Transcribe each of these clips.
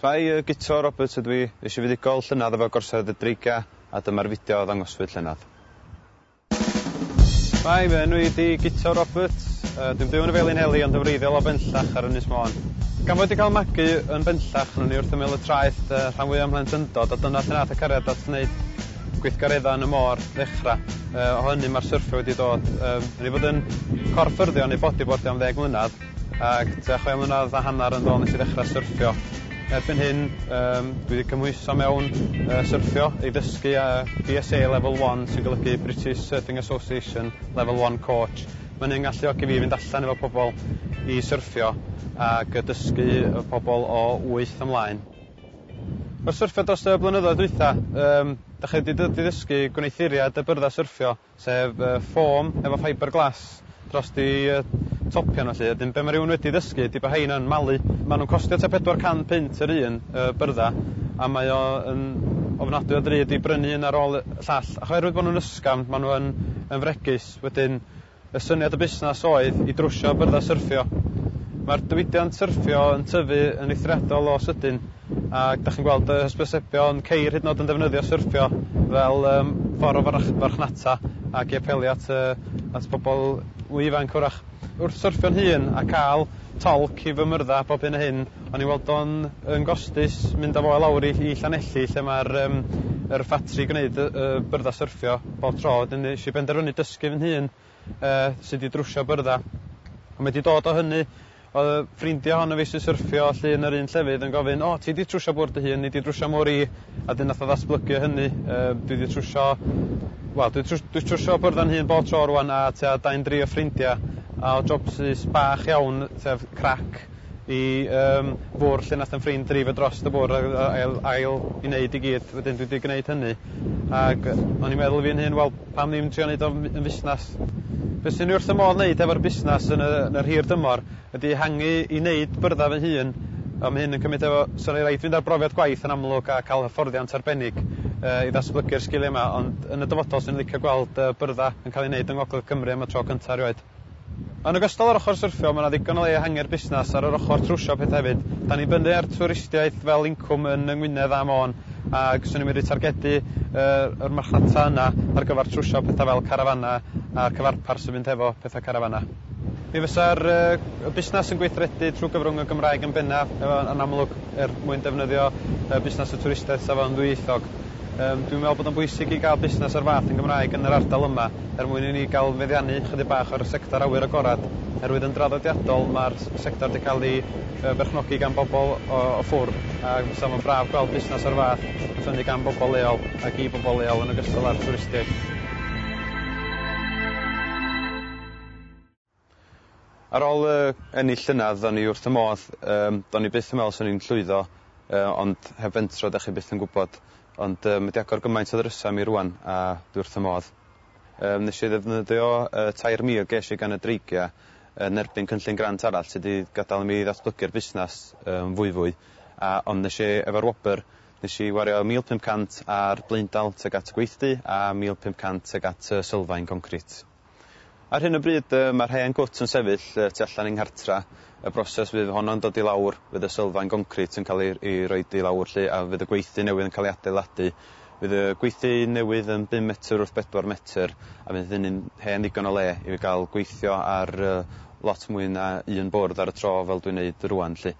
Dwi yy Guto Roberts ydw i, es i fuddugol llynedd efo Gorsedd y Dreigia a dyma'r fideo a ddangoswyd llynedd. Hi, fy enw i ydi Guto Roberts, yy dwi'n byw yn y Felinheli ond yn wreiddiol o Benllach ar Ynys Môn. Gan fod wedi cael magu yn Benllach ro'n i wrth ymyl y traeth yy rhan fwya' o'm mhlentyndod a dyna lle nath y cariad at wneud gweithgaredda' yn y môr ddechra'. Yy o hynny ma'r syrffio wedi dod, yym o'n i fod yn corff ffyrddio neu bodibordio am ddeg mlynadd, Ac tua chwe mlynedd a hanner yn dôl nes i ddechrau syrffio. Erbyn hyn yym dwi 'di cymhwyso mewn yy syrffio i ddysgu yy BSA level one sy'n golygu British Surfing Association level one coach. Ma' hynny'n ngalluogi fi i fynd allan efo pobl i syrffio ag yy dysgu yy pobl o wyth ymlaen. Wrth syrffio dros y blynyddoedd dwytha yym 'dach chi 'di dod i ddysgu gwneuthuriad y byrddau syrffio sef ffom efo ffiber glas dros i topion felly, wedyn be mae rhywun wedi ddysgu ydy bod rhein yn malu, maen nhw'n costio tua 400 punt yr un, y byrddau, a mae o yn ofnadwy o ddrud i brynu un ar ôl y llall, ac oherwydd bod nhw'n ysgafn maen nhw yn yn fregus, wedyn y syniad y busnes oedd i drwsio byrddau syrffio. Mae'r diwydiant syrffio yn tyfu yn eithriadol o sydyn, A dach chi'n gweld y hysbysebion ceir hyd yn o'd yn defnyddio syrffio fel yym ffor o farch- farchnata ac i apelio at yy at bobol mwy ifanc 'w'rach. Wrth syrffio'n hun a ca'l tolc i fy myrddau bob hyn a hyn o'n i'n weld o'n yn gostus mynd â fo i lawr i i Llanelli lle ma'r yym yr ffatri gwneud y y byrddau syrffio bob tro 'dyn nesh i benderfynu dysgu fy nhun yy sy 'di drwsio byrdda. A mae 'di dod o hynny oedd y ffrindia hon o fi sy'n syrffio allu yn yr un llefydd yn gofyn o ti 'di trwsio bwrdd dy hun ni 'di drwsio mwr i a dyn nath o ddatblygu o hynny yy dwi 'di trwsio wel dwi trws- dwi trwsio byrdda'n hun bob tro rŵan a tua dau'n dri o ffrindia a o jobsus bach iawn sef crac i yym fwrdd lle nath 'yn ffrind dreifio drost y bwrdd ag a- ail ail i neud i gyd wedyn dwi 'di gneud hynny ag yy o'n i'n meddwl i fi'n hun wel pam ddim trio neud o m- yn fusnas? Be' swn i wrth fy modd neud efo'r busnas yn y yn yr hir dymor ydi ehangu i neud byrdda fy hun a ma' hyn yn cymyd efo so ni raid fynd ar brofiad gwaith yn amlwg a ca'l hyfforddiant arbennig yy i ddatblygu'r sgilia 'ma ond yn y dyfodol swn i'n licio gweld yy byrdda yn ca'l i neud yng ngogledd Cymru am y tro cynta erioed. Yn ogystal â'r ochr syrffio, mae 'na ddigon o le ehangu'r busnes ar yr ochr trwsio pethau hefyd. Dan ni'n dibynnu ar twristiaeth fel incwm yn yng Ngwynedd a Môn ac 'swn i'n medru targedu yr marchnata yna ar gyfer trwsio pethau fel carafanau a'r cyfarpar sy'n mynd hefo pethau carafanau. Mi fysa'r busnes yn gweithredu trwy gyfrwng y Gymraeg yn bennaf, yn amlwg, er mwyn defnyddio busnes y twristiaeth safonddwyieithog. Yym, dwi'n me'wl bod o'n bwysig i ga'l busnes o'r fath yn Gymraeg yn yr ardal yma, er mwyn i ni ga'l meddiannu chydig bach o'r sector awyr agorad, oherwydd yn draddodiadol ma'r s- sector 'di ca'l 'i yy berchnogi gan bobol o o ffwr', a fysa fo'n braf gweld busnes o'r fath yn ffynnu gan bobol leol ac i bobol leol yn ogystal â'r twristiaid. Ar ol y ennill llynadd do'n i wrth y modd yym do'n i byth yn me'wl swn i'n llwyddo yy ond heb fentro dach chi byth yn gwbod ond yy ma' 'di agor gymaint o ddrysa i mi rŵan a dwi wrth y modd. Yym nesh i ddefnyddio y tair mil gesh i gan y dreigia yn erbyn cynllun grant arall sy 'di gadal i mi ddatblygu'r busnas yn fwyfwy a ond nesh i efo'r wobr nesh i wario mil pump cant ar blaendal tuag at y gweithdy a mil pump cant tuag at y sylfaen goncrit. Ar hyn o bryd yy mae'r hen gwt yn sefyll yy tu allan i'n nghartra', y broses fydd honno'n dod i lawr, fydd y sylfaen goncrit yn cael ei ei roid i lawr 'lly a fydd y gweithdy newydd yn cael ei adeiladu. Fydd y gweithdy newydd yn bum metr wrth bedwar metr a fydd hynny'n hen ddigon o le i fi gael gweithio ar yy lot mwy na un bwrdd ar y tro fel dwi'n neud rŵan 'lly.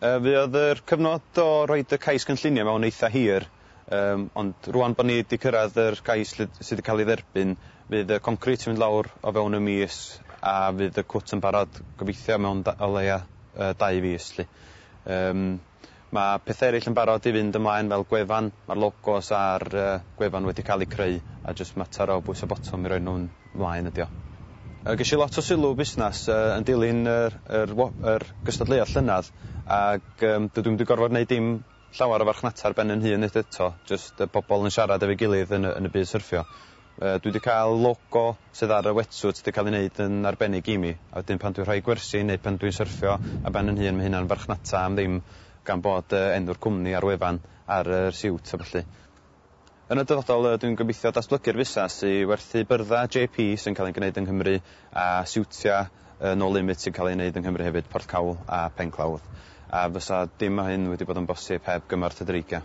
Yy fuodd yr cyfnod o roid y cais gynllunio mewn eitha' hir Yym, ond rŵan bod ni 'di cyrraedd yr cais lle sy' 'di cael ei dderbyn, fydd y concrit yn mynd lawr o fewn y mis a fydd y cwt yn barod, gobeithio, mewn da- o leia' yy dau fis 'lly. Yym, ma' pethe ereill yn barod i fynd ymlaen fel gwefan, ma'r logos a'r yy gwefan wedi cael eu creu a jyst mater o bwyso botwm i roi nhw'n 'mlaen ydi o. Yy, gesh i lot o sylw busnas yy yn dilyn yr yr wo- yr gystadleuaeth llynadd ag yym dydw i'm 'di gorfod neud dim llawer o farchnata ar ben yn hun unwaith eto, jyst y pobl yn siarad efo'i gilydd yn y yn y byd syrffio. Yy dwi 'di cael logo sydd ar y wetsuit 'di cael ei wneud yn arbennig i mi, a wedyn pan dwi'n rhoi gwersi neu pan dwi'n syrffio ar ben yn hun mae hynna'n farchnata am ddim gan bod yy enw'r cwmni a'r wefan ar yr siwt a ballu. Yn y dyfodol, rydw i'n gobeithio datblygu'r fusnes i werthu byrddau JP sy'n cael eu gwneud yng Nghymru a siwtiau No Limit sy'n cael eu wneud yng Nghymru hefyd, Porthcawl a Penclawdd, a fysa dim o hyn wedi bod yn bosib heb gymorth y Dreigiau.